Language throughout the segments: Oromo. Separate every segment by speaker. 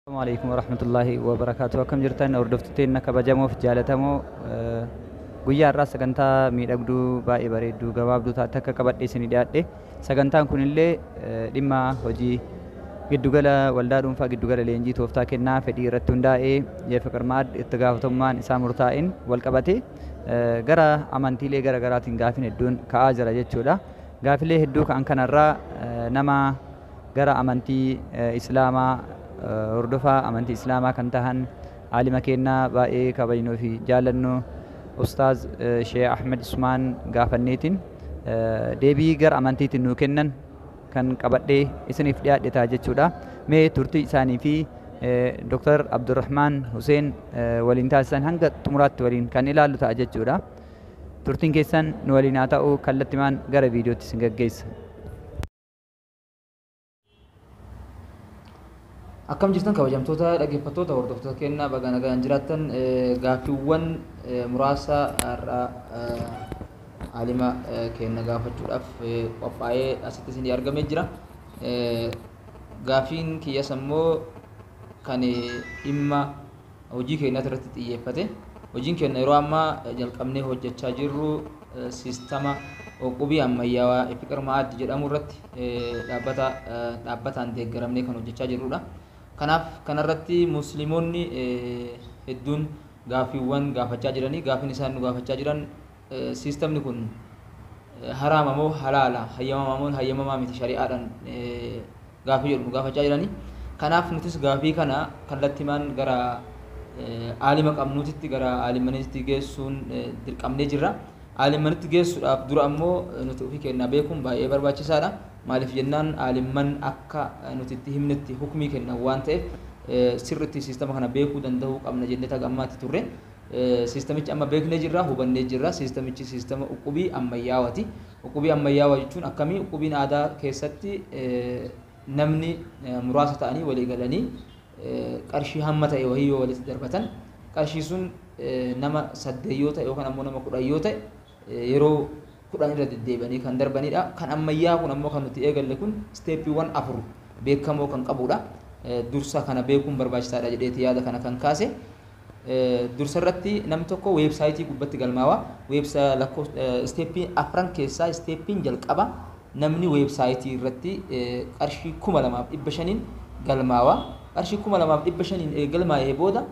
Speaker 1: Assalamu alaikum warahmatullahi wabarakatuh. Akkam jirtan hordoftoota keenya kabajamoof jaalatamoo eh, guyyaa har'aa sagantaa miidhagduu baay'ee bareedduu gabaabduu taate akka qabadhee isinii dhiyaadhe. Sagantaan kunillee eh, dhimma hojii giddugala waldaa dhuunfaa giddugala leenjii tooftaa kennaa fedhii irratti hundaa'ee Yefiqir Maad itti gaafatamummaan isaa murtaa'een wal qabatee eh, gara amantiilee gara garaatiin gaafin hedduun ka'aa jira jechuudha. Gaafilee hedduu ka'an kanarraa eh, nama gara amantii islaamaa hordofaa amantii islaamaa kan tahan aalima keennaa baay'ee kabajnuu fi jaalannu ustaaz sheeh ahmed usmaan gaafanneetiin deebii gara amantiitiin nuu kennan kan qabadhee isiniif dhiyaadhe ta'a jechuudha mee turtii isaanii fi Dr. Abdurrahmaan Huseen waliin taasisan hanga xumuraatti waliin kan ilaallu ta'a jechuudha. Turtiin keessan nu waliin haa ta'u kallattimaan gara viidiyootti isin gaggeessa.
Speaker 2: Akkam jirtan kabajamtoota dhaggeeffattoota hordoftoota kennaa baga nagaan jiraattan gaaffiiwwan muraasa har'aa haalima kenna gaafachuudhaaf qophaa'ee asitti isin argamee jira. Gaaffiin kiyyas ammoo kan dhimma hojii keenyaati irratti xiyyeeffate. Hojiin keenya yeroo ammaa jalqabnee hojjechaa jirru siistama qubii ammayyaawaa Ifiqir Ma'aad jedhamu irratti dhaabbata dhaabbataan deeggaramnee kan hojjechaa jirrudha. Kanaaf kanarratti musliimonni hedduun gaaffiiwwan gaafachaa jiranii gaaffiin isaan nu gaafachaa jiran siistamni kun haraama moo halaala hayyamamaa moo hayyamamaa miti shari'aadhaan gaafii jedhu nu gaafachaa jirani. Kanaaf nutis gaafii kana kallattimaan gara aalima qabnuutitti gara aalimmaniitti geessuun dirqamnee jirra. Aalimmanitti geessuudhaaf dura ammoo nuti ofii kennaa beekuun baay'ee barbaachisaadha. Maaliif jennaan aalimman akka nuti itti himnetti hukmii kennan waan ta'eef sirritti siistama kana beekuu danda'uu qabna jennee taga ammaatti turre. Siistamichi amma beeknee jirra, hubannee jirra. Siistamichi siistama uqubii ammayyaawati. Uqubii ammayyaawaa jechuun akkamii? Uqubiin aadaa keessatti namni muraasa ta'anii walii galanii qarshii hamma ta'e wahii yoo walitti darbatan qarshii sun nama saddeet yoo ta'e yookaan ammoo nama kudhan yoo ta'e yeroo kudhan irra deddeebi'anii kan darbanidha. Kan ammayyaa kun ammoo kan nuti eegalle kun isteeppiiwwan afur beekamoo kan qabudha. Dursa kana beekuun barbaachisaadha jedheeti yaada kana kan kaase. Dursa irratti namni tokko weebsaayitii gubbatti galmaawa. Weebsa lakkoofsa isteeppii afran keessaa isteeppiin jalqaba namni weebsaayitii irratti qarshii kuma lamaaf dhibba shaniin galmaawa. Qarshii kuma lamaaf dhibba shaniin erga galmaa'ee booda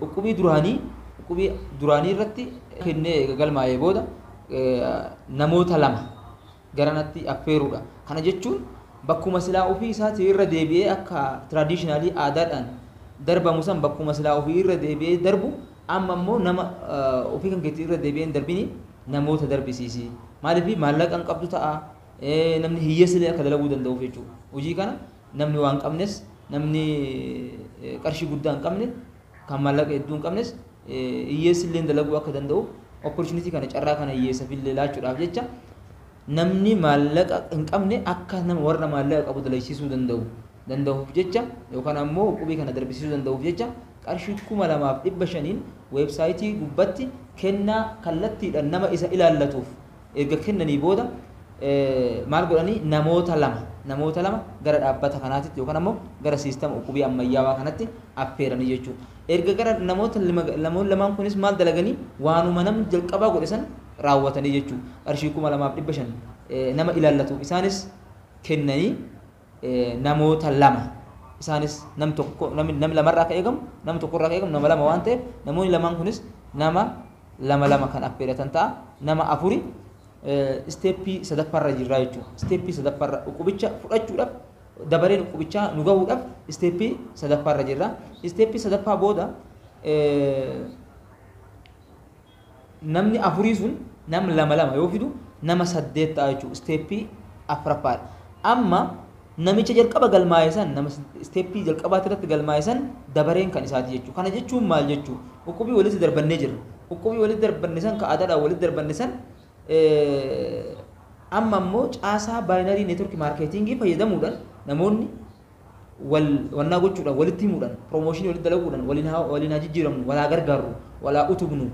Speaker 2: uqubii duraanii uqubii duraanii irratti kennee erga galmaa'ee booda namoota lama garanatti affeeruudha. Kana jechuun bakkuma silaa ofii isaatii irra deebi'ee akka traditionally aadaadhaan darbamu san bakkuma silaa ofii irra deebi'ee darbu amma immoo nama eh, ofii kan keetii irra deebi'ee hin darbini namoota darbisiisi. Maaliif maallaqa hin qabdu ta'a eh, namni hiyyeessilee akka dalaguu danda'uuf jechuudha. Hojii kana namni waan qabnes namni eh, qarshii guddaa hin qabne Kan maallaqa hedduu hin qabnes hiyyeessi illee dalaguu akka danda'uuf opportunity kana carraa kana hiyyeessaf illee laachuudhaaf jecha namni maallaqa hin qabne akka nama warra maallaqa qabu dalagsiisuu danda'u danda'uuf jecha yookaan ammoo qubii kana darbisiisuu danda'uuf jecha qarshii kuma lamaaf dhibba shaniin weebsaayitii gubbatti kennaa kallattiidhaan nama isa ilaallatuuf Erga kennanii booda maal godhani namoota lama namoota lama gara dhaabbata kanaatitti yookaan ammoo gara siistama ukkubii ammayyaawaa kanatti affeeranii jechuu. Erga gara namoota lama namoonni lamaan kunis maal dalaganii waanuma namni jalqabaa godhe san raawwatanii jechuu. Qarshii kuma lamaaf dhibba shan nama ilaallatu isaanis kennanii namoota lama isaanis nam tokko nam lamarraa akka eegamu nam tokkorraa akka eegamu nama lama waan ta'eef namoonni lamaan kunis nama lama lama kan affeeratan ta'a. Nama afuri isteeppii sadaffaarra jirraa jechuudha. Isteeppii sadaffaarra dhukubicha fudhachuudhaaf dabareen dhukubichaa nu gahuudhaaf isteeppii sadaffaarra jirra. Isteeppii sadaffaa booda namni afurii sun nam lama lama yoo fidu nama saddeet ta'a jechuudha. Isteeppii afraffaadha. Amma Namicha jalqaba galmaa'e san, nama step jalqabaa irratti galmaa'e san dabareen kan isaati jechuu. Kana jechuun maal jechuu? Uqubii walitti darbannee jirra. Uqubii walitti darbanne san ka aadaadhaan walitti darbanne san amma ammoo caasaa baayinarii neetwork maarkeetingii fayyadamuudhaan namoonni wal wannaa gochuudhaan walitti himuudhaan piroomooshinii walitti dalaguudhaan waliin haa waliin haa jijjiiramnu walaa gargaarru walaa utubnu,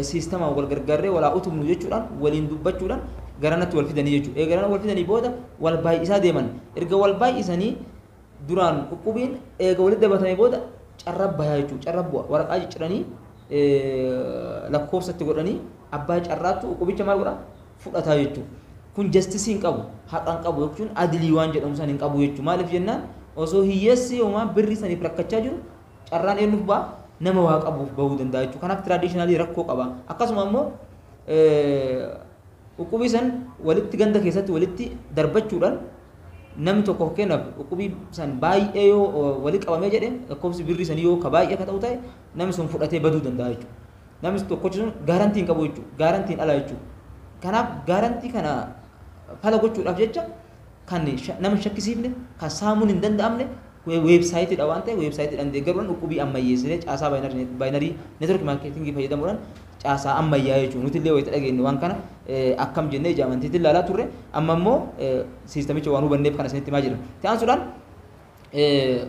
Speaker 2: siistamaan wal gargaarree walaa utubnu jechuudhaan waliin dubbachuudhaan garanatti wal fidanii jechuudha. Eega garana wal fidanii booda wal baay'isaa deeman. Erga wal baay'isanii duraan dhukkubiin eega walitti dabatamee booda carra bayaa jechuudha. Carra bu'a. Waraqaa cicciranii lakkoofsatti godhanii abbaa carraattu dhukkubicha maal godha? Fudhataa jechuudha. Kun jastisii hin qabu. Haqa hin qabu jechuun adilii waan jedhamu san hin qabu jechuudha. Maaliif jennaan osoo hiyyeessi homaa birri saniif rakkachaa jiru carraan eenyuuf ba'a? Nama waa qabuuf ba'uu danda'a jechuudha. Kanaaf traditionally rakkoo qaba. Akkasuma ammoo Uqubii san walitti ganda keessatti walitti darbachuudhaan namni tokko fakkeenyaaf uqubii san baay'ee yoo wali qabamee jedhe lakkoofsi birrii sanii yoo ka baay'ee ka ta'u ta'e namni sun fudhatee baduu danda'a jechuudha. Namni tokkochi sun gaarantii hin qabu jechuudha. Gaarantiin ala jechuudha. Kanaaf gaarantii kana fala gochuudhaaf jecha kan nama hin shakkisiifne, kan saamuun hin danda'amne weebsaayitiidha waan ta'eef weebsaayitiidhaan deeggaruudhaan dhukkubii ammayyeessinee caasaa baayinarii network maarkeetingii fayyadamuudhaan caasaa ammayyaa jechuudha. Nuti illee wayita dhageenye waan kana akkam jennee ija amantiitiin ilaalaa turre amma immoo siistamicha waan hubanneef kana isinitti himaa jirra. Itti aansuudhaan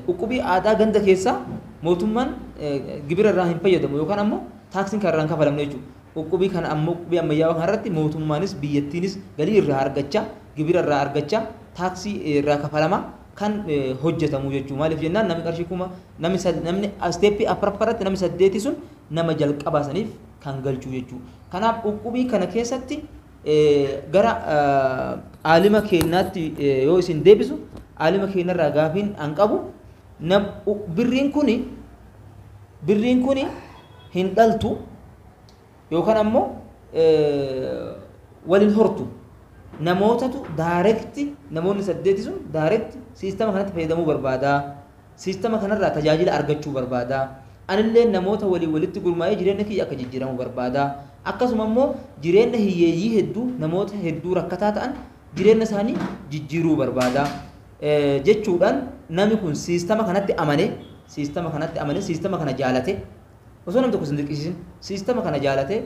Speaker 2: Uqubii aadaa ganda keessaa mootummaan gibira irraa hin fayyadamu yookaan ammoo taaksiin kan irraa hin kafalamne jechuudha. Uqubii kana ammoo uqubii ammayyaawaa kana irratti mootummaanis biyyattiinis galii irraa argachaa gibira irraa argachaa taaksii irraa kafalamaa kan hojjetamu jechuudha. Maaliif jennaan namni qarshii kuma namni namni isteeppii afraffaa irratti namni saddeetii sun nama jalqabaa saniif kan galchuu jechuudha. Kanaaf uqubii kana keessatti gara aalima keennaatti yoo isin deebisu aalima keennarraa gaafiin an qabu birriin kuni birriin kuni hin dhaltu yookaan ammoo waliin hortu namootatu daarekti namoonni saddeeti sun daarekti siistama kanatti fayyadamuu barbaadaa Siistama kanarraa tajaajila argachuu barbaada. Anilleen namoota waliin walitti gurmaa'ee jireenna kiyya akka jijjiiramu barbaada. Akkasuma immoo jireenna hiyyeeyyii hedduu, namoota hedduu rakkataa ta'an jireenna isaanii jijjiiruu barbaada. jechuudhaan nami kun siistama kanatti amane, siistama kanatti amane, siistama kana jaalate, Osoo namni tokko isin dirqisiisin siistama kana jaalatee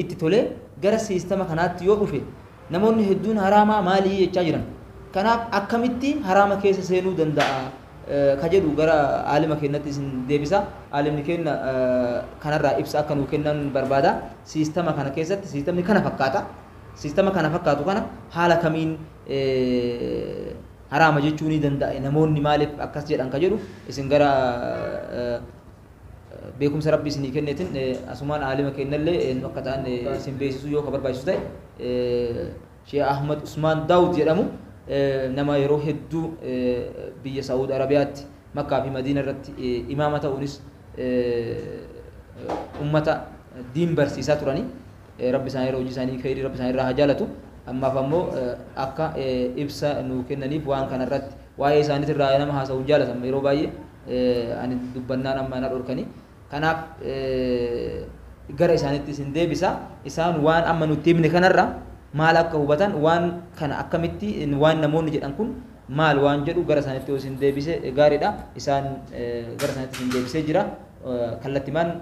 Speaker 2: itti tolee gara siistama kanaatti yoo dhufe namoonni hedduun haraamaa maalii jechaa jiran. Kanaaf akkamitti haraama keessa seenuu danda'a ka jedhu gara aalima keenyatti isin deebisa. Aalimni keenya kanarraa ibsa akka nuu kennan barbaada. Siistama kana keessatti siistamni kana fakkaata. Siistama kana fakkaatu kana haala kamiin haraama jechuu ni danda'a namoonni maaliif akkas jedhan ka jedhu isin gara beekumsa rabbi isinii kenneetin asumaan aalima keennallee eenyu akka ta'an isin beeksisuu yoo ka barbaachisu ta'e Sheekh Ahmad Usmaan Daawud jedhamu nama yeroo hedduu biyya Saa'ud Arabiyaatti Makkaa fi Madiina irratti imaama ta'uunis ummata diin barsiisaa turanii Rabbi isaanirra hojii isaanii kheeyrii Rabbi isaanirraa haa jaalatu. Ammaaf ammoo akka ibsa nuu kennaniif waan kana irratti waa'ee isaanitirraa nama haasawu hin jaalatan yeroo baay'ee ani dubbannaan amma na dhorkanii. Kanaaf gara isaanitti isin deebisa. Isaan waan amma nutti himne kanarra maal akka hubatan waan kana akkamitti waan namoonni jedhan kun maal waan jedhu gara isaanitti yoo isin deebise gaariidha. Isaan gara isaanitti isin deebisee jira. Kallattimaan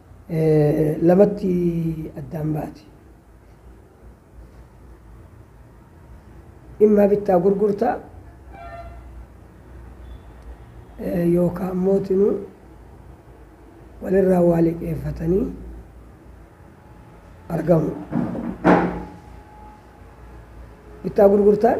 Speaker 3: lamatti addaan baati. Dhimma bittaa gurgurtaa yookaan mootinuu walirraa waa liqeeffatanii argamu. Bittaa gurgurtaan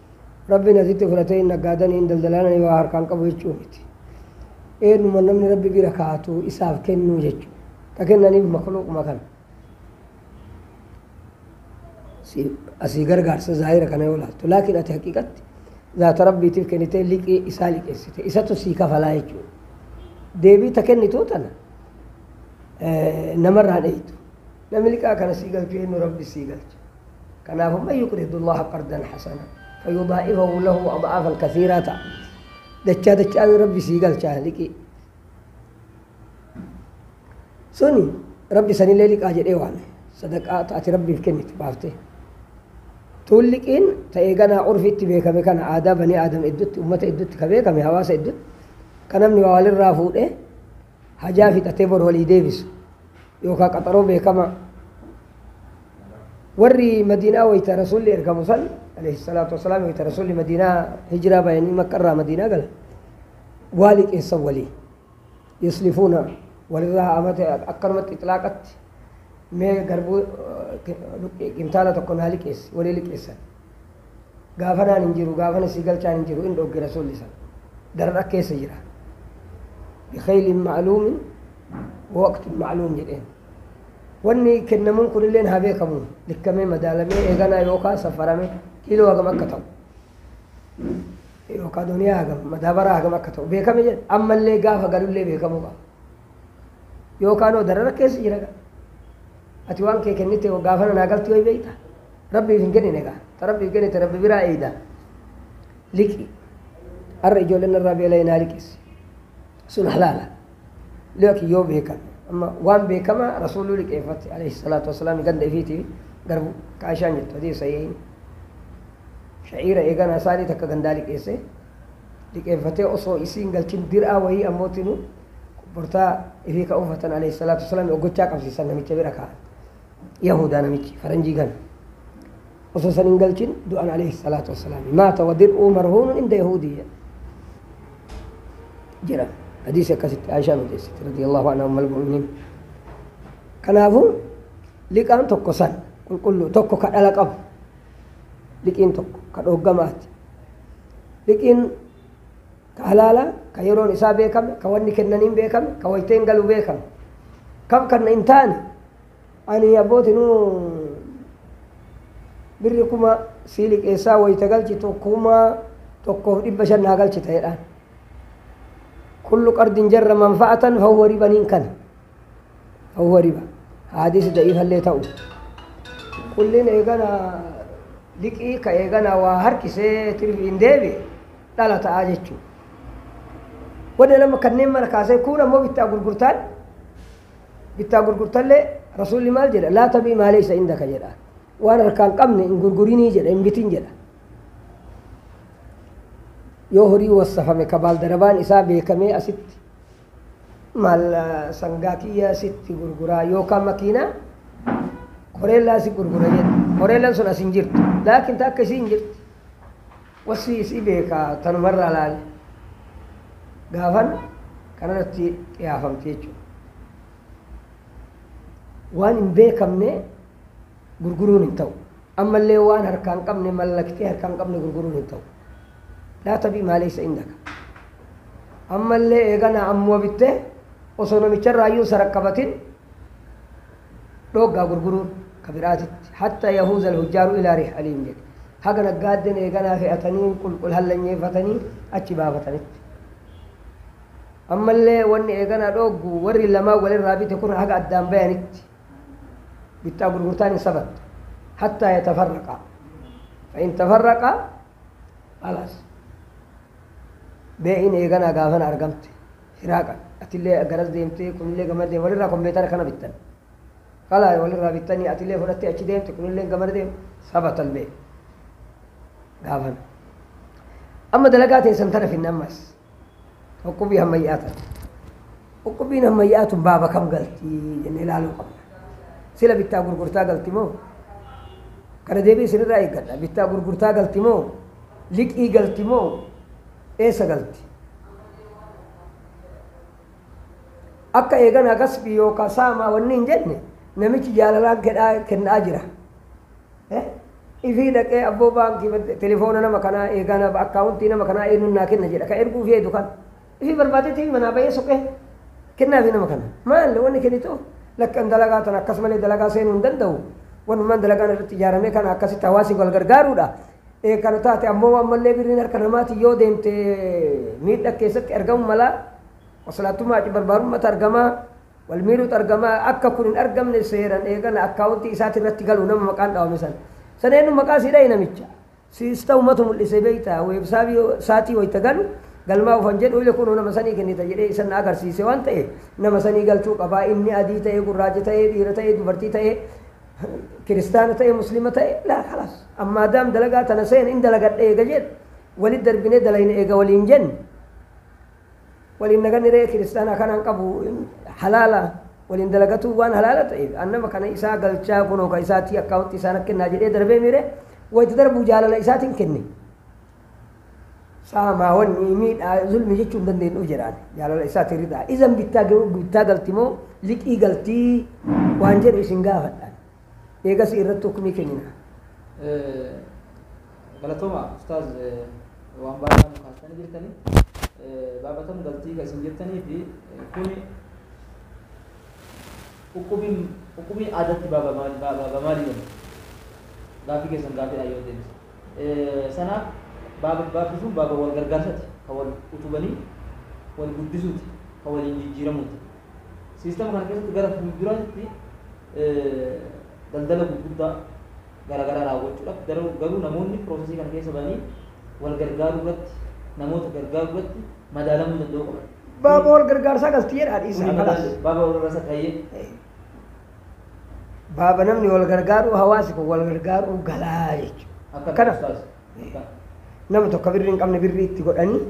Speaker 3: Rabbiin asitti fudhatee hin naggaadanii hin daldalaananii waa harkaan qabu jechuu miti. Eenyuma namni rabbi bira kaa'atu isaaf kennuu jechuudha. Ka kennaniif makluuquma kana. Asii gargaarsa zaahira kana yoo laaltu. Laakiin ati haqiiqatti zaata rabbiitiif kennitee liqii isaa liqeessite. Isatu sii kafalaa jechuudha. Deebii ta kennituu tana namarraan eeytu. Namni liqaa kana sii galchu eennu? Rabbis sii galcha. Kanaafu, man yuqridu Allaaha qardan hasanan fayudaa'ifahu lahu ad'aafan kasiiraa ta'a. Dachaa dachaan Rabbi sii galcha liqii. Suni Rabbi sanillee liqaa jedhee waame. Sadaqaa ta ati Rabbiif kennitu baaftee. Tuun liqiin ta eeganaa urfiitti beekame kana aadaa banii aadam iddutti, ummata iddutti ka beekame hawaasa iddutti ka namni waa walirraa fuudhee Hajaa fixatee bor walii deebisu yookaan qaxaroo beekamaa. Warri Madiinaa wayita Rasuulli ergamu san alayhi salaatu wassalaam wayita Rasuulli Madiinaa hijiraa bayanii Makka irraa Madiinaa galan waa liqeessan walii yuslifuuna walirraa amata akkanumatti ixlaaqatti mee garbuu qintaala tokko naa liqeessi walii liqeessan. gaafanaan hin jiru gaafana sii galchaan hin jiru in dhogge rasuulli san darra keessa jira bikhaylin ma'luumin waqtin ma'luum jedheen wanni kennamuun kunilleen haa beekamu likkamee madaalamee eeganaa yookaan safarame kiiloo hagam akka ta'u yookaan duniyaa hagam madaabaraa hagam akka ta'u beekame jedhe ammallee gaafa galullee beekamuu qaba yookaan oo darara keessa jira ati waan kee kennite gaafana naa galtu yoo beekta Rabbiif hin kennine gaa. Ta Rabbiif kennite Rabbi biraa eeyda. Liqi. Har'a ijoolleen irraa beela'ee naa liqeessi. Sun halaala. Liqi yoo beekame. Amma waan beekamaa rasuuluu liqeeffate alayhi salaatu wasalaam ganda ifiitiif garbu kaashaan jettu hadii sahihiin. Sha'iira eeganaa isaanii takka gandaa liqeesse. Liqeeffatee osoo isiin galchin dir'aa wayii ammootinuu bortaa ifii ka uffatan alayhi salaatu wasalaam oggochaa qabsiisan namicha bira kaa'an. Yahudaa namichi faranjii kana osoo san hin galchin du'an alayhi salaatu wassalaam maata wadir'uu marhuunun inda Yahudii jedha hadiisi akkasitti Aishaan odeessite radiyallahu anha ummal mu'miniin kanaafuu liqaan tokko san qulqulluu tokko ka dhala qabu liqiin tokko ka dhooggamaati liqiin Ka halaalaa, ka yeroon isaa beekame, ka wanni kennaniin beekame, ka wayteen galu beekame. Kam kanna hin taane, ani abbooti nu birri kuma sii liqeessaa wayta galchitu kuma tokkoof dhibba shan naa galchita jedhaan. Kullu qardin jarra manfa'atan fahuwa riban hin kana. Fahuwa riba. Haadisi da'iifallee ta'u. Kullin eegana liqii ka eegana waa harkisee tirfi hin deebi'e. dhala ta'a jechuudha. Warri lama kanneen mara kaasee kuun ammoo bittaa gurgurtaan bittaa gurgurtallee rasuulli maal jedha laa tabii maalee isa indaka jedha waan harkaan qabne hin gurgurinii jedha hin bitin jedha. Yoo horii wassafame ka baaldarabaan isaa beekamee asitti maal sangaa kiyya sitti gurguraa yookaan makiinaa koreellaa si gurgura jedha koreellaan sun as hin jirtu laakiin takka isii hin jirtu. Wasfii isii beeka tanuma irraa laali gaafan kana irratti qiyaafamti jechuudha. Waan hin beekamne gurguruun hin ta'u. Ammallee waan harkaa hin qabne mallaktee harkaa hin qabne gurguruun hin ta'u. Laa tabii maaleessa indaka. Ammallee eeganaa ammuma bittee osoo namicharraayyuu sarakkabatin dhooggaa gurguruun ka biraatitti hatta yahuuzal hujjaaru ilaa rihaliim jedhe haga naggaadden eeganaa ke'atanii qulqul hallanyeeffatanii achi baafatanitti ammallee wanni eeganaa dhooggu warri lamaan walirraa bite kun haga addaan bayanitti bittaa gurgurtaan hin sabattu hattaa yatafarraqaa fa'in tafarraqaa alaas bee'in eeganaa gaafana argamte Hiraaqa atillee garas deemtee kunillee gamana deema walirraa kompeetara kana bittan kala walirraa bittanii atillee fudhattee achi deemte kunillee gamana deema saba talbee gaafana amma dalagaa teessan tana finne ammas qoqqobbii hammayyaa tana qoqqobbiin hammayyaa tun baaba kam galti jennee ilaaluu qabna sila bittaa gurgurtaa galti moo kana deebii isinirraa eeggadha bittaa gurgurtaa galti moo liqii galti moo eessa galti? Akka eeganaa kasbii yookaan saamaa wanni hin jenne namichi jaalalaan kedhaa kennaa jira. Eh? Ifii dhaqee abboo baankii bad- telefoona nama kanaa eeganaa akkaawuntii nama kanaa eenyuun naa kenna jedha ka erguuf heedu kan. Ifii barbaadee tiivi manaa bahee soqee kennaa fi nama kana. Maal wanni kennitu lakkan dalagaa tan akkas malee dalagaa seenuu hin danda'u. Wanumaan dalagaan irratti ijaaramee kana akkasitti hawaasi wal gargaaruudha. ee kana taate ammoo ammallee birriin harka namaatiin yoo deemte miidha keessatti argamu mala qoslaattummaa aci barbaarummata argama wal miidhuutu argama akka kun hin argamne seeran eegana akkaawuntii isaati irratti galu nama maqaan dhaawame san san eenyu maqaa sii dhahe namicha siis ta'u matu mul'ise beekta weebsaabii saatii wayita galu galmaa ufan jedhu ile kunuu nama sanii kennita jedhee isan na agarsiise waan ta'e nama sanii galchuu qabaa inni adii ta'ee gurraacha ta'ee dhiira ta'ee dubartii ta'ee kiristaana ta'ee muslima ta'ee laa kalaas An maadaam dalagaa tana seene in dalagadha eega jedhe walit darbinee dalayna eega waliin jenne waliin naganni re'ee kiristaanaa kana hin qabu in halaala waliin dalagatuu waan halaala ta'eef an nama kana isaa galchaa kunoo ka isaatii akkaawunti isaan akka kennaa jedhee darbee miire wayita darbuu jaalala isaatiin kenne saamaa wanni miidhaa zulmi jechuu hin dandeenyu jedhaan jaalala isaatiin ridhaa izan bittaa bittaa galti moo liqii galtii waan jedhu isin gaafadhaan Eegasii irratti hukmii kennina.
Speaker 2: Galatoomaa ustaaz waan baay'ee nu kaastanii jirtani. Baabatan galtii kan isin jettanii fi kuni hukumiin hukumii aadatti baaba maal- ba- baaba maalii jedhama? Gaaffii keessan gaaffiidhaan yoo deebise. Sanaaf baaba baabbi sun baaba wal gargaarsati kan wal utubanii wal guddisuuti kan waliin jijjiiramuuti. Siistama kana keessatti gara fuulduraatti daldala gurguddaa garaagaraa raawwachuudhaaf garuu garuu namoonni piroosesii kana keessa ba'anii wal gargaaruu irratti namoota gargaaruu irratti madaalamuu danda'uu qaban. Baaba wal
Speaker 3: gargaarsaa gasti jedhaa Kuni dhiisaa kalaas. madaalu baaba wal gargaarsa
Speaker 2: taa'ee
Speaker 3: Baaba namni wal gargaaru hawaasi kun wal gargaaru galaa jechuudha. akka Kana. taasisu. Nama tokko birrii hin qabne birrii itti godhanii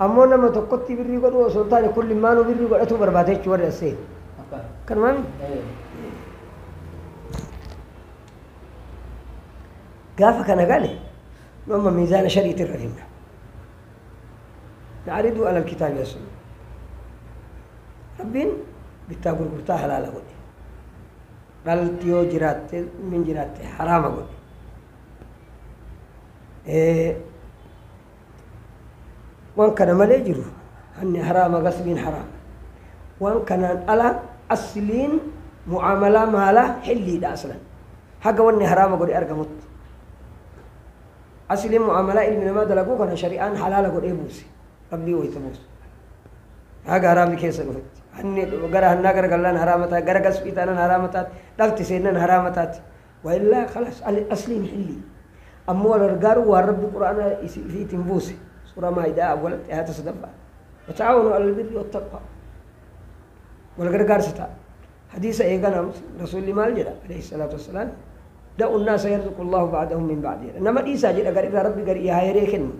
Speaker 3: ammoo nama tokkotti birrii godhuu osoo hin taane kun limmaanuu birrii godhatuu barbaada jechuun warri assee. Kanumaan gaafa kana gale nu amma miizaana shariitti irra finna. Na'ariduu alal kitaabi asuma. Rabbiin bittaa gurgurtaa halaala godhe. Dhalti yoo jiraatte min jiraatte haraama godhe. waan kana malee jiru hanni haraama gasbiin haraama waan kanaan ala asliin mu'aamalaa maalaa hilliidha aslan haga wanni haraama godhe argamutti asliin mu'aamalaa ilmi namaa dalaguu kana shari'aan halaala godhee buuse rabbii wayta buusu haga haraamni keessa dhufetti hanni gara hannaa gara gallaan haraama taate gara gasbii taanan haraama taate dhalti seennan haraama taate Waillaa khalas ani asliin hillii. Ammoo wal gargaaruu waan Rabbi Qur'aana ifiitiin buuse. Suuraa Maa'idaa awwalatti aayaata 3ffaa. Wata'aawanuu 'alal birri wattaqwaa. Wal gargaarsa ta'a. Hadiisa eeganaa Muslim Rasuulli maal jedha? Aleyhi salaatu wassalaam Da'u nnaasa yarzuqu Allaahu ba'dahum min ba'di jedha. Nama dhiisaa jedha garirraa Rabbi garii haa heree kennu.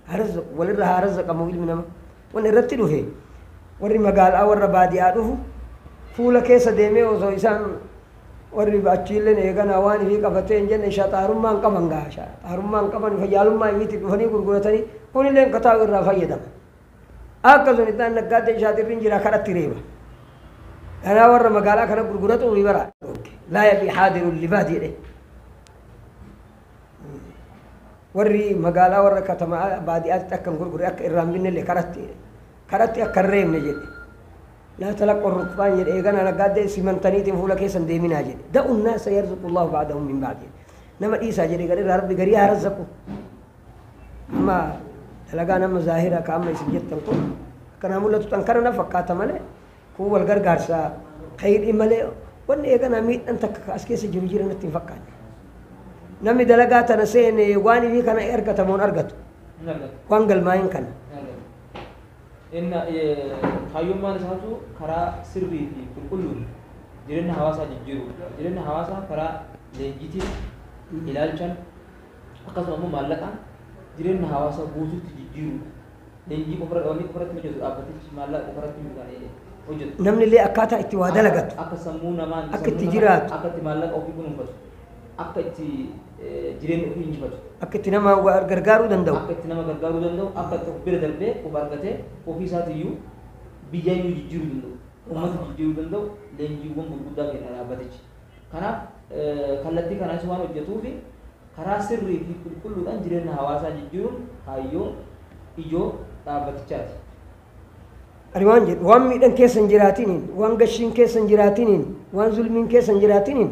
Speaker 3: Haa razzaqu. Walirra haa razzaqamu ilmi nama. Wanni irratti dhufe warri magaalaa warra baadiyaa dhufu fuula keessa deemee osoo isaan Warri achiilleen eeganaa waan ifii qabatee hin jenne shaxaarummaa hin qaban gaa shaxaarummaa hin qaban fayyaalummaa ifiitti dhufanii gurguratanii kunilleen ka taa'u irraa fayyadama. Akka sun ittaan naggaaddee shaaxirri hin jira kadhatti reeba. Kanaa warra magaalaa kana gurguratu ofii bara. Laa yabii haadirun libaad jedhe. Warri magaalaa warra katamaa baadiyaatti akka hin gurgure akka irraa hin binnellee kadhatti jedhe. karatti akka hin reebne jedhe. Laa talaqqu rukbaan jedhe eeganaa naggaadde simantaniitiin fuula keessan deeminaa jedhe. Da'u naasa yarzuqu Allahu ba'dahum min ba'd jedhe. Nama dhiisaa jedhe garirraa rabbi garii haa razzaqu. Amma dalagaan amma zaahira ka amma isin jettan kun akkanaa mul'atu tan kana na fakkaata malee kun wal gargaarsa kayidhi malee wanni eeganaa miidhan takka ka as keessa jiru jira natti hin fakkaanne. Namni dalagaa tana seene waan ifii kana argatamoon argatu. Waan galmaa'in kana.
Speaker 2: Inna, kaayyummaan isaatu karaa sirrii fi qulqulluun jireenya hawaasaa jijjiiruudha. Jireenya hawaasaa karaa leenjiitiin, ilaalchan, akkasuma immoo maallaqaan jireenya hawaasaa guutuutti jijjiiruudha. Leenjii qofa irratti wanni qofa irratti hojjetu dhaabbatichi maallaqa qofa irratti miti kan hojjetu. Namni illee akkaataa itti
Speaker 3: waa dalagatu. Akka sammuu namaan
Speaker 2: akka itti jiraatu. Akka
Speaker 3: itti maallaqa ofii
Speaker 2: kunuunfatu. Akka itti jireenya ofii injifatu. Akka itti nama wa-
Speaker 3: gargaaruu danda'u. Akka itti nama gargaaruu danda'u,
Speaker 2: akka itti of bira darbee of argatee ofii isaatiyyuu biyyayyuu jijjiiruu danda'u, uummata jijjiiruu danda'u leenjiiwwan gurguddaa kenna dhaabbatichi. Kanaaf eh, kallattii kanaanis waan hojjetuufi karaa sirrii fi qulqulluudhaan jireenya hawaasaa jijjiiruun kaayyoo ijoo dhaabbatichaati.
Speaker 3: Ani waan jedhu waan miidhan keessa hin jiraatiniin, waan gashiin keessa hin jiraatiniin, waan zulmiin keessa hin jiraatiniin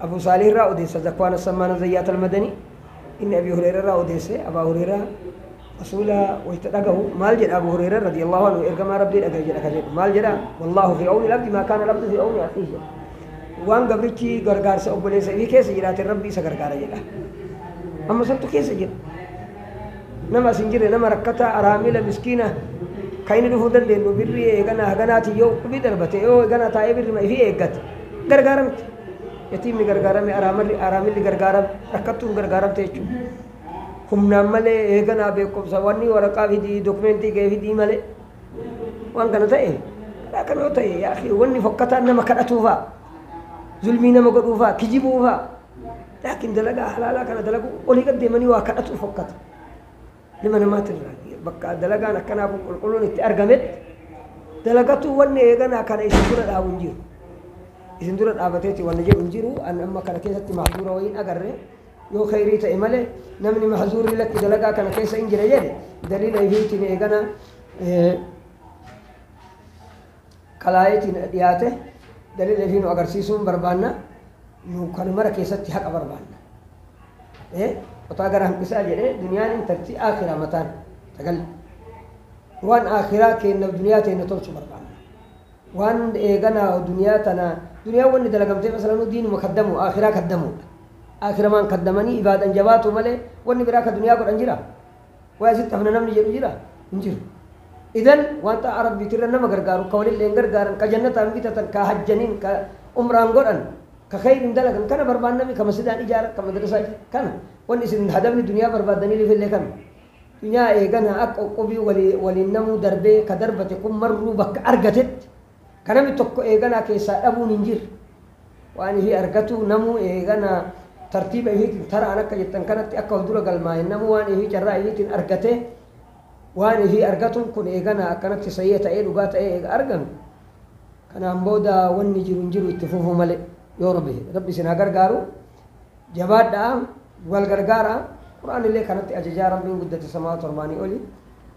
Speaker 3: Abuu Saalih irraa odeessa Zakwaan Assammaan Azzayyaat Almadanii inni Abii Hureera irraa odeesse Abaa Hureera Rasuula wayta dhagahu maal jedha Abuu Hureera radiyallahu anhu ergamaa Rabbii dhagahe jedha ka jedhu maal jedha wallaahu fi awni labdi maa kaana labdu fi awni akhihi jedha waan gabrichi gargaarsa obboleessa ifii keessa jiraatin Rabbi isa gargaara jedha amma santu keessa jira nama as hin jirre nama rakkataa araamila miskiina kan inni dhufuu dandeenyu birrii eeganaa haganaatiin yoo uqubii darbate yoo eeganaa taa'ee birrima ifii eeggate gargaaramte yatiimni gargaarame araamarri araamilli gargaarame rakkattuun gargaaramte jechuudha humnaan malee eeganaa beekumsa wanni waraqaa fidii dokumentii kee fidii malee waan kana ta'e karaa kan yoo ta'e yaa akhi, wanni fokkataan nama kadhatuufaa zulmii nama godhuufaa kijibuufaa Laakiin dalagaa halaalaa kana dalagu olii gad deemanii waa kadhatu fokkata. Nama namaatti irraa bakka dalagaan akkanaa kun qulqulluun itti argametti dalagatu wanni eeganaa kana isin dura dhaabu hin jiru. Isin dura dhaabateeti wanni jedhu hin jiru. An amma kana keessatti mahzuura wayii hin agarre yoo kheyrii ta'e malee namni mahzuurri lakki dalagaa kana keessa hin jira jedhe daliila ifiitiin eeganaa kalaayitiin dhiyaate daliila fi nu agarsiisuun barbaanna nu kan mara keessatti haqa barbaanna ee qotaa gara hanqisaa jedhee duniyaan intartii aakiraa mataan tagal waan aakiraa keenna duniyaa teenna tolchu barbaanna waan eeganaa duniyaa tana duniyaa wanni dalagamtee masalanuu diinuma kaddamu aakiraa kaddamuudha aakiramaan kaddamanii ibaadan jabaatu malee wanni biraa ka duniyaa godhan jira Way asitti hafna namni jedhu jira? Hin jiru. Idan wanta Arabbiitirra nama gargaaru ka walilleen gargaaran, ka jannataan bitatan, ka hajjaniin, ka umraan godhan, ka kheyriin dalagan kana barbaannami ka masjidaan ijaaran, ka madrasaa ijaaran kana. Wanni isin hadafni duniyaa barbaaddaniilifillee kana. Dunyaa eegana akka uqqubii waliin namuu darbee ka darbate kun marruu bakka argatetti Ka nami tokko eeganaa keessaa dhabuun hin jirre. Waan ifii argatuu namuu eeganaa tartiiba ifiitiin taraan akka jettan kanatti akka of dura galmaa'een namuu waan ifii carraa ifiitiin argatee waan ifii argatuun kun eeganaa akkanatti sahiiha ta'ee dhugaa ta'ee eega arganu kanaan booda wanni jiru hin jiru itti fufuu malee yoo rabbi jedhe. rabbi isin haa gargaaru jabaadhaa wal gargaaraa quraan illee kanatti ajajaa rabbiin guddate samaa torbaanii oli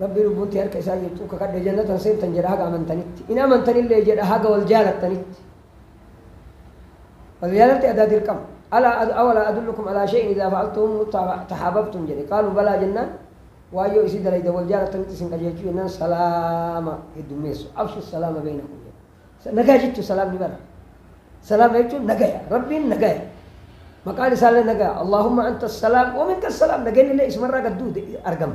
Speaker 3: Rabbi lubbuun tee harka isaa jirtu kakadhe jannatan seentan jedha haga amantanitti. Hin amantanillee jedha haga wal jaalattanitti. Wal jaalalti adaa dirqama. Alaa ad- awalaa adullukum alaa shay'in idaa fa'altumuhu ta- tahaababtum jedhe. Qaaluu balaa jennaan waan yoo isii dalaydan wal jaalattanitti isin qajeelchu jennaan salaama heddummeessu. Abshu salaama beeynakum jedhe. Nagaa jechuun salaamni bara. Salaama jechuun nagaya. Rabbiin nagaya. Maqaan isaallee nagaya. Allaahumma anta salaam wa minka salaam nageenyi illee isumarraa gad duute argama.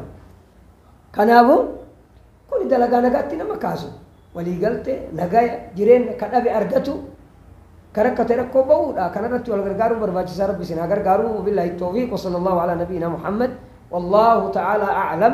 Speaker 3: Kanaafuu kuni dalagaa nagaatti nama kaasu. Waliigalte nagaya jireenya ka dhabe argatu ka rakkate rakkoo ba'uudha. Kanarratti wal gargaaruun barbaachisaa rabbi isin haa gargaaru. Billaahi toofiiq wa sallallahu ala nabiyyina Muhammad. Wallaahu ta'ala a'lam.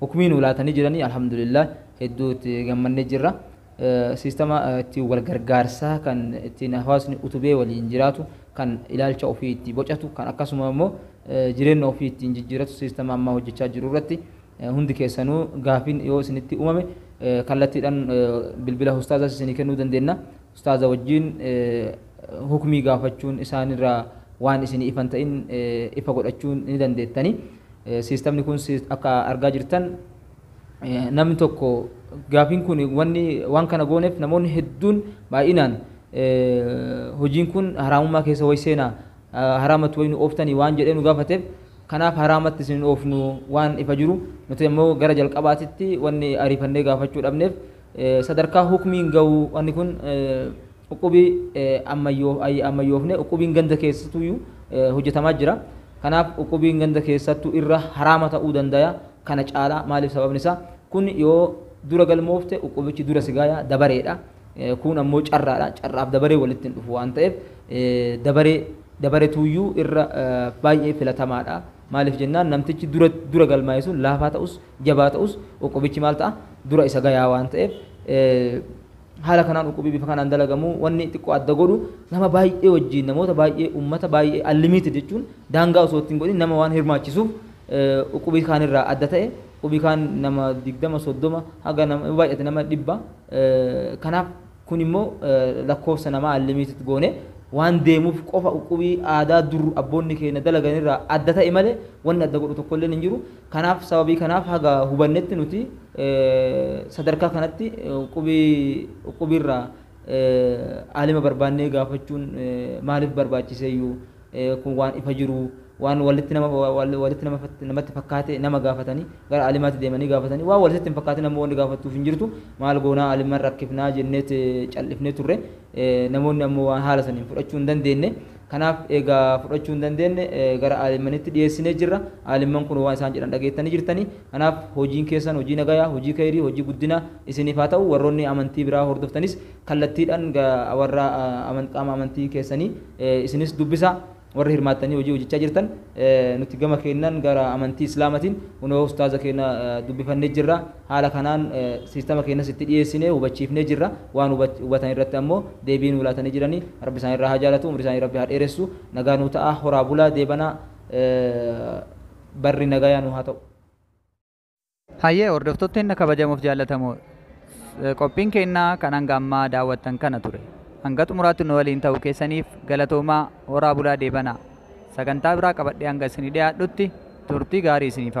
Speaker 2: Hukmii nuu laatanii jiranii alhamdulillah hedduu itti gammannee jirra. Siistama ittiin wal gargaarsaa kan ittiin hawaasni utubee waliin jiraatu kan ilaalcha ofii itti bocatu kan akkasuma immoo jireenya ofii ittiin jijjiiratu siistama ammaa hojjechaa jiru irratti hundi keessanuu gaafiin yoo isinitti uumame kallattiidhaan bilbila ustaazaas isinii kennuu dandeenna. Ustaaza wajjiin hukmii gaafachuun isaan irraa waan isinii ifa hin ta'in ifa godhachuun ni dandeettani. Siistamni kun akka argaa jirtan namni tokko gaafiin kun wanni waan kana gooneef namoonni hedduun baay'inaan hojiin kun haraamummaa keessa way seenaa haraamatti way nu ooftanii waan jedhee nu gaafateef kanaaf haraamatti isin oofnu waan ifa jiru nuti immoo gara jalqabaatitti wanni ariifannee gaafachuu dhabneef sadarkaa hukmiin ga'u wanni kun Uqqubi ammayyoofne uqqubiin ganda keessatuyyu hojjetamaa jira. Kanaaf uqqubiin ganda keessattu irra haraama ta'uu dandaya kana caalaa maaliif sababni isaa kun yoo dura galmoofte uqqubichi dura sigaaya dabareedha. Kuun ammoo carraadha. Carraaf dabaree walitti hin dhufu waan ta'eef dabaree dabaretuuyyuu irra baay'ee filatamaadha. Maaliif jennaan namtichi dura dura galmaa'e sun laafaa ta'us jabaa ta'us uqqubichi maal ta'a dura isa gayaa waan ta'eef Haala kanaan uqubii bifa kanaan dalagamu wanni xiqqoo adda godhu nama baay'ee wajjiin namoota baay'ee ummata baay'ee unlimited jechuun daangaa osoo itti hin godhin nama waan hirmaachisuuf uqubii kaan irraa adda ta'e uqubii kaan nama 20 30 haga nama yoo baay'ate nama 100 kanaaf kun immoo lakkoofsa namaa unlimited goone waan deemuuf qofa uqubii aadaa dur abboonni keenya dalagan irraa adda ta'e malee wanni adda godhu tokko illeen hin jiru Kanaaf sababii kanaaf haga hubannetti nuti sadarkaa kanatti qubii uqqubiirraa aalima barbaannee gaafachuun maaliif barbaachiseeyyuu kun waan ifa jiruu waan walitti nama walitti nama namatti fakkaate nama gaafatanii gara aalimaatti deemanii gaafatanii waan walitti hin fakkaatin ammoo wanni gaafattuuf hin jirtu maal goonaa aaliman rakkifnaa jenneet callifnee turre namoonni ammoo waan haala saniin fudhachuu hin dandeenye Kanaaf eega fudhachuu hin dandeenne gara aalimmanitti dhiyeessinee jirra. Aalimman kun waan isaan jedhan dhageettanii jirtani. Kanaaf hojiin keessan hojii nagayaa, hojii keyrii, hojii guddinaa isiniif haa ta'u. Warroonni amantii biraa hordoftanis kallattiidhaan warra qaama amantii keessanii isinis dubbisaa. Warri hirmaattanii hojii hojjechaa jirtan nuti gama keennaan gara amantii Islaamatiin kunoo ustaaza keenya dubbifannee jirra. Haala kanaan siistama keenyas itti dhiyeessinee hubachiifnee jirra. Waan hubatan irratti ammoo deebii nuu laatanii jirani. Rabbi isaan irraa haa jaalatu, umrii isaanii Rabbi haa dheeressu. Nagaa nuu ta'aa, horaa bulaa, deebanaa barri nagaya nuu haa ta'u.
Speaker 1: Hayyee hordoftoota teenna kabajamoof jaallatamoo qophiin keenna kan hanga ammaa daawwattan kana ture. Hanga xumuraatti nu waliin ta'uu keessaniif galatoomaa, horaa bulaa deebanaa. Sagantaa biraa qabadhee hanga isinii dhiyaadhutti turtii gaarii isiniif hawwa.